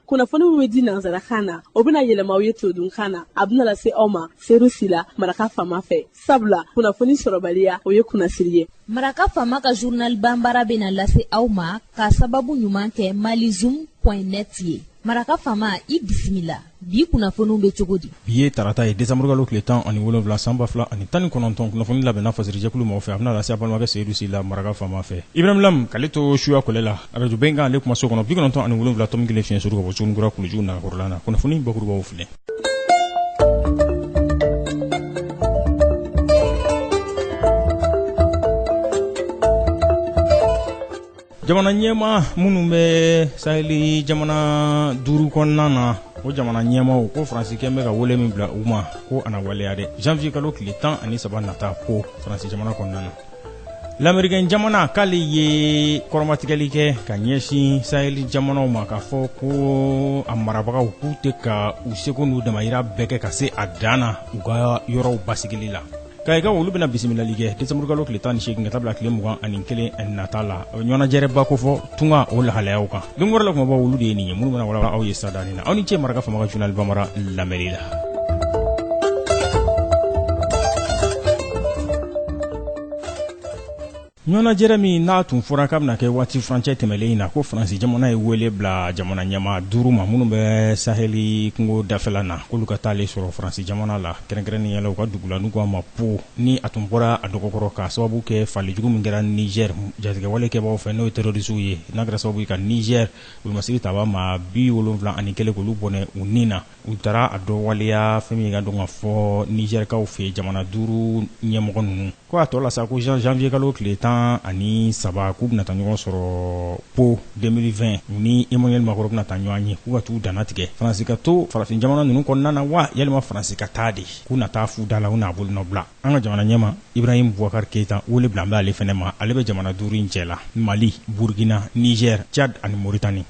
kunnafoni min bɛ di nansarakan na o bɛna yɛlɛma aw ye todunkan na a bɛna lase aw ma seyidu sila maraka fama fɛ sabula kunnafoni sɔrɔbaliya o ye kunnasiri ye maraka fama ka zurnali bambara bɛna lase aw ma k'a sababu ɲuman kɛ malizum point net ye maraka fama i bisimila bi kunnafoniw bɛ cogo di bi ye tarata ye desanburukalo tile tan ani wolonwula san ba fila ani tan ni kɔnɔntɔn kunnafoni labɛnna fasirijɛkulu mɔgɔ fɛ a bɛna lase a balimakɛ seyidu sila maraka faama fɛ ibrahim lam k'ale to suya kɔlɛ la arajo bɛnkan ale kumaso kɔnɔ bi kɔnɔntɔn ani wolonwula tɔmi kelen fiɲɛ suru ka bɔ sugunikura kulujugu nagakɔrɔla na kunnafoni bakurubaw filɛ jamana ɲɛmaa minnu bɛ saheli jamana duuru kɔnɔna na o jamana ɲɛmaaw ko faransi kɛlen bɛ ka wele min bila u ma ko a na waleya dɛ janvier kalo tile tan ani saba nata ko faransi jamana kɔnɔna na lamerikɛn jamana k'ale ye kɔrɔmatigɛli kɛ ka ɲɛsin saheli jamanaw ma k'a fɔ ko a marabagaw k'u tɛ ka u seko n'u damayira bɛɛ kɛ ka se a dan na u ka yɔrɔw basigili la Kayikaw olu bɛna bisimilali kɛ desanburukalo tile tan ani seegin ka taa bila tile mugan ani kelen nata la ɲɔgɔnnajɛrɛba kofɔ tunga o lahalayaw kan don wɛrɛ la kumabaw olu de ye nin ye minnu bɛna wala aw ye sadanin na aw ni cɛ maraka fama ka zurnali bambara lamɛnni la ɲɔgɔnnajɛrɛ min n'a tun fɔra k'a bɛna kɛ waati furancɛ tɛmɛlen in na ko faransi jamana ye wele bila jamana ɲɛmaa duuru ma minnu bɛ sahɛli kungo dafɛla na k'olu ka taalen sɔrɔ faransi jamana la kɛrɛnkɛrɛnnenya la u ka dugu la n'u k'a ma po ni a tun bɔra a dɔgɔ kɔrɔ k'a sababu kɛ fagali jugu min kɛra nizɛri jatigɛwale kɛbaaw fɛ n'o ye terɔrisiw ye n'a kɛra sababu ye ka nizɛri wolomasiri taabaa maa bi wolonwula ani kelen k'olu bɔnɛ u ni na u taara a dɔ waleya fɛn min ye ka dɔn ka fɔ nizɛrikaw fɛ jamana duuru ɲɛmɔgɔ ninnu Ko a tɔ la sa ko janvier kalo tile tan ani saba k'u bɛna taa ɲɔgɔn sɔrɔ po deux mille vingt u ni emmanuel macron bɛna taa ɲɔgɔn ye k'u ka taa u dannatigɛ faransi ka to farafin jamana ninnu kɔnɔna na wa yalima faransi ka taa de k'u na taa fu da la u n'a bolo nɔ bila an ka jamana ɲɛmaa ibrahim bubakari keyita wele bilalen bɛ ale fana ma ale bɛ jamana duuru in cɛ la mali burukina nizɛri cadi ani moritani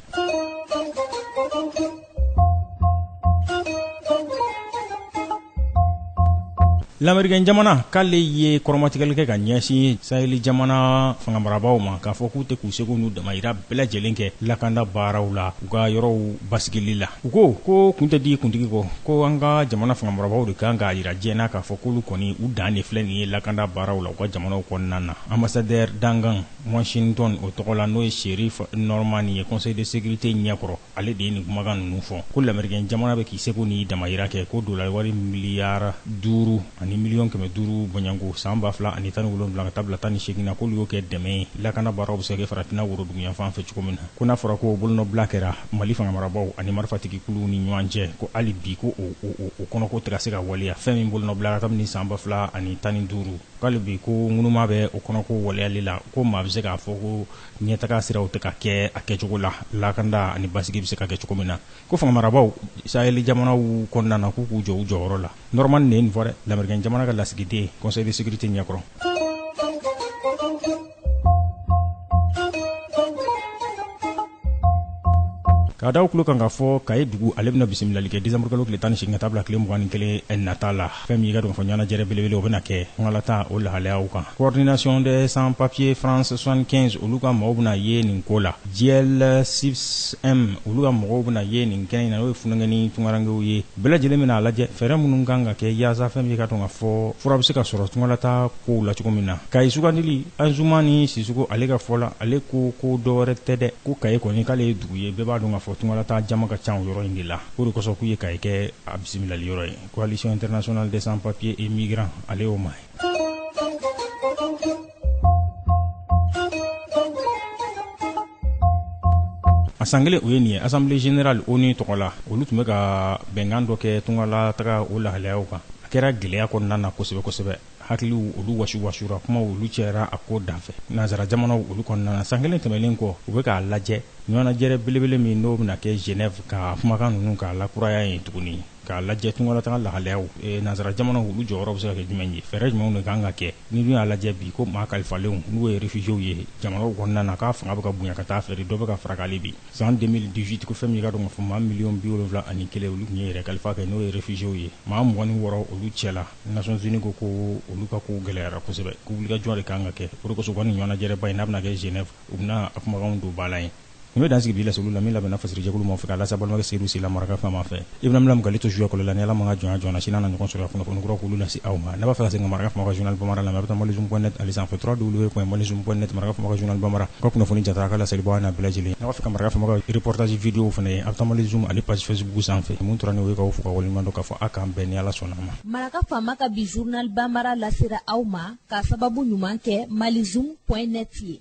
Lamerikɛn jamana k'ale ye kɔrɔmatigɛli kɛ ka ɲɛsin saheli jamana fangamarabagaw ma k'a fɔ k'u tɛ k'u seko n'u damayira bɛɛ lajɛlen kɛ lakanda baaraw la u ka yɔrɔw basigili la u ko ko kun tɛ di kuntigi kɔ ko an ka jamana fangamarabagaw de ka kan k'a yira diɲɛ na k'a fɔ k'olu kɔni u dan de filɛ nin ye lakanda baaraw la u ka jamanaw kɔnɔna na ambassadeur dankan washington o tɔgɔ la n'o ye cherith norman ye conseil de sécurité ɲɛkɔrɔ Ale de ye nin kumakan ninnu fɔ ko lamerikɛn jamana bɛ k'i seko n'i damayira kɛ ko dɔlari wari miliyari duuru ani miliyɔn kɛmɛ duuru bɔɲɔgɔnko san ba fila ani tan ni wolonwula ka taa bila tan ni segin na k'olu y'o kɛ dɛmɛ ye lakana baaraw bɛ se ka kɛ farafinna woroduguyanfan fɛ cogo min na ko n'a fɔra ko bolonɔbila kɛra mali fangamarabaaw ani marifatigikuluw ni ɲɔgɔn cɛ ko hali bi ko o kɔnɔko tɛ ka se ka waleya fɛn min bolonɔbilala kabini san ba fila ani tan ni duuru ko hali bi ko ŋunuma bɛ o kɔnɔko waleyali la ko maa bɛ se k'a fɔ ko ɲɛtaga siraw tɛ ka kɛ a kɛcogo la lakanda ani basigi bɛ se ka kɛ cogo min na ko fangamarabaw saheli jamanaw kɔnɔna na k'u k'u jɔ u jɔyɔrɔ la Norman de ye nin fɔ dɛ lamerikɛn jamana ka lasigiden conseil de sécurité ɲɛkɔrɔ k'a da aw tulo kan k'a fɔ kayi dugu ale bɛna bisimilali kɛ desanburukalo tile tan ni seegin ka taa bila tile mugan ni kelen nata la fɛn min ye k'a dɔn k'a fɔ ɲɔgɔnnajɛrɛ belebele o bɛna kɛ tunkalataa o lahalayaw kan coordination des sans papiers France 75 olu ka mɔgɔw bɛna ye nin ko la DIEL CISPM olu ka mɔgɔw bɛna ye nin kɛnɛ in na n'o ye funankɛnin tunkarankew ye bɛɛ lajɛlen bɛna a lajɛ fɛɛrɛ minnu kan ka kɛ yaasa fɛn min ye k'a dɔn k'a fɔ fura bɛ se ka sɔrɔ tunkalataa kow la cogo min na kayi sugandili Anzumani Sisoko ale ka fɔ la ale ko ko dɔwɛrɛ tɛ dɛ ko kayi kɔni k'ale ye dugu ye bɛɛ b'a dɔn k'a fɔ tunkalataa jama ka ca o yɔrɔ in de la o de kosɔn k'u ye kayi kɛ a bisimilali yɔrɔ ye Coalition internationale des sans papiers et migrants ale y'o maa ye a san kelen o ye nin ye assemblée générale ONU tɔgɔ la olu tun bɛ ka bɛnkan dɔ kɛ tungalataga o lahalayaw kan a kɛra gɛlɛya kɔnɔna na kosɛbɛ kosɛbɛ hakiliw olu wasiwasura kumaw olu cayara a ko danfɛ nansara jamanaw olu kɔnɔna na san kelen tɛmɛnen kɔ u bɛ k'a lajɛ ɲɔgɔnnajɛrɛ belebele min n'o bɛna kɛ genève ka kumakan ninnu k'a lakuraya yen tuguni k'a lajɛ tungalataga lahalayaw eh, nansara jamanaw olu jɔyɔrɔ bɛ se ka kɛ jumɛn ye fɛɛrɛ jumɛnw de kan ka kɛ n'i dun y'a lajɛ bi ko maa kalifalenw n'u ye réfugiéw ye jamanaw kɔnɔna na k'a fanga bɛ ka bonya ka taa a fɛ de dɔ bɛ ka fara ko hali bi san 2018 ko fɛn min k'a dɔn k'a fɔ maa miliyɔn bi wolonwula ani kelen olu tun ye yɛrɛ kalifa kɛ n'o ye réfugiéw ye maa mugan ni wɔɔrɔ olu cɛla nations unies ko ko olu ka kow gɛlɛyara kosɛbɛ ko wulikajɔ de kan ka kɛ o de kosɔn u ka nin ɲɔgɔnnajɛrɛba in n'a bɛna kɛ genève u bɛna a kumakanw don ba la yen Nin bɛ dan sigi bi laseliw la min labɛnna fasirijɛkulu maaw fɛ k'a lase balimakɛ Seyidu Sila maraka faama fɛ. I bɛna mina mugali to sujɔ kolo la ni Ala ma an ka jɔnya jɔɔna sini an na ɲɔgɔn sɔrɔ yan kunnafoni kuraw k'olu lase aw ma. N'a b'a fɛ ka segin ka maraka faama ka journal Banbara lamɛn a bɛ taa Malizoom point net ale sanfɛ www.malizoom point net maraka faama ka journal Banbara ka kunnafoni jatara a ka laseli bɔ an n'a bɛɛ lajɛlen. N'a b'a fɛ ka maraka faama ka reportage video w fana ye a bɛ taa Malizoom ale page facebook sanfɛ. Min tora n'o ye k'aw fo k'aw waleɲuman dɔn k'a fɔ a k'an bɛn ni Ala sɔnna a ma. Maraka faama ka bi journal Banbara lasera aw ma k'a sababu ɲuman kɛ Malizoom point net ye.